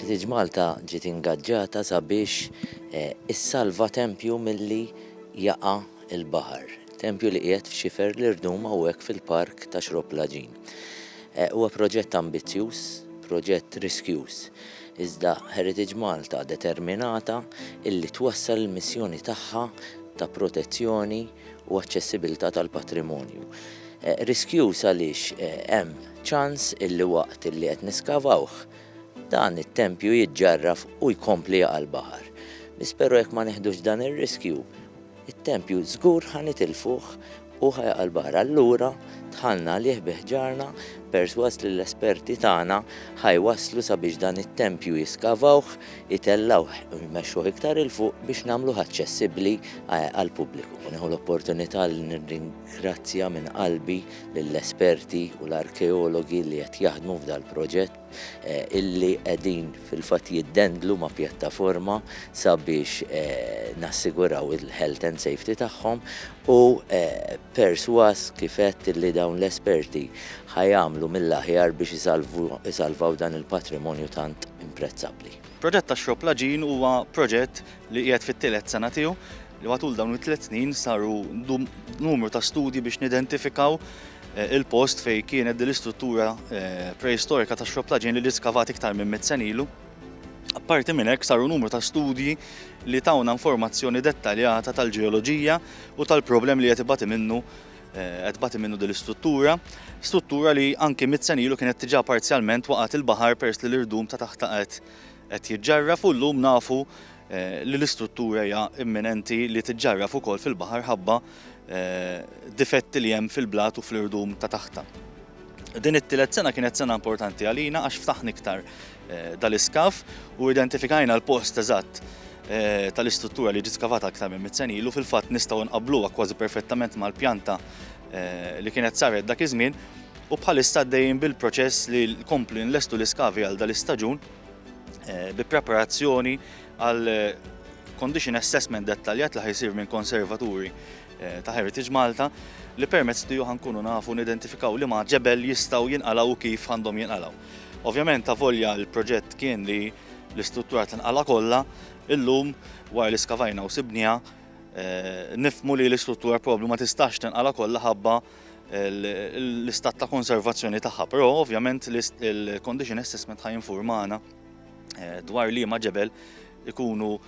Heritage Malta ġiet ingaġġata sabiex eh, issalva tempju milli jaqa' il-baħar. Tempju li qiegħed f'xifer l-irdum hawnhekk fil-park ta' Xrob Laġin. Eh, huwa proġett ambizzjuż, proġett riskjuż. Iżda Heritage Malta determinata illi twassal il-missjoni tagħha ta' protezzjoni u aċċessibilità tal-patrimonju. Riskjuż għaliex hemm ċans illi waqt illi qed niskavawh, dan it-tempju jiġġarraf u jkompli jaqa' l-baħar. Biss però jekk ma neħdux dan ir-riskju, it-tempju żgur ħa nitilfuh u ħa jaqa' l-baħar. Allura dħalna għalih bi ħġarna persważ li l-esperti tagħna ħa jwasslu sabiex dan it-tempju jiskavawh, itellgħuh u jmexxuh iktar 'il fuq biex nagħmluh aċċessibbli għall-pubbliku. Nieħu l-opportunità li nirringrazzja minn qalbi lill-esperti u l-arkeologi li qed jaħdmu f'dal-proġett illi qegħdin fil-fatt jiddendlu ma' pjattaforma sabiex nassiguraw il-health and safety tagħhom Hu persważ kif għedt li dawn l-esperti ħa jagħmlu mill-aħjar biex isalvaw dan il-patrimonju tant imprezzabbli. Proġett tax-Xrob Laġin huwa proġett li qiegħed fit-tielet sena tiegħu li matul dawn it-tliet snin saru numru ta' studji biex nidentifikaw il-post fejn kienet din l-istruttura preistorika tax-Xrob Laġin li ġiet skavata iktar minn mitt sena ilu. Apparti minn hekk saru numru ta' studji li tawna informazzjoni dettaljata tal-ġeoloġija u tal-problem li qed ibati minnu eh, qed bati minnu din l-istruttura, struttura li anki mit-senilu kienet tiġa parzjalment waqgħet il-baħar pers li l-irdum ta' taħt qed qed jiġġarra fuq llum nafu eh, li l-istruttura hija imminenti li tiġġarraf ukoll fil-baħar ħabba eh, difetti li hemm fil-blat u fl-irdum ta' taħta. Din it-tielet sena kienet sena importanti għalina għax ftaħni iktar dal-iskaff u identifikajna l-post eżatt Eh, tal-istruttura li ġiet skavata aktar minn mit senilu ilu fil-fatt nistgħu nqabluha kważi perfettament mal-pjanta eh, li kienet saret dak iż-żmien u bħalissa dejjem bil-proċess li l-kompli nlestu l-iskavi għal dal-istaġun eh, bi preparazzjoni għal condition assessment dettaljat li ħajsir minn konservaturi ta' Heritage Malta li permezz tiegħu ħankunu nafu nidentifikaw li ma' ġebel jistgħu jinqalaw kif għandhom jinqalaw. Ovvjament avolja l-proġett kien li l-istruttura tinqala' kollha, illum wara li skavajna u sibniha eh, nifmu li l-istruttura probabbli ma tistax tinqala' kollha ħabba l-istat ta' konservazzjoni tagħha, però ovvjament il-condition assessment ħaj informana eh, dwar li ma ġebel ikunu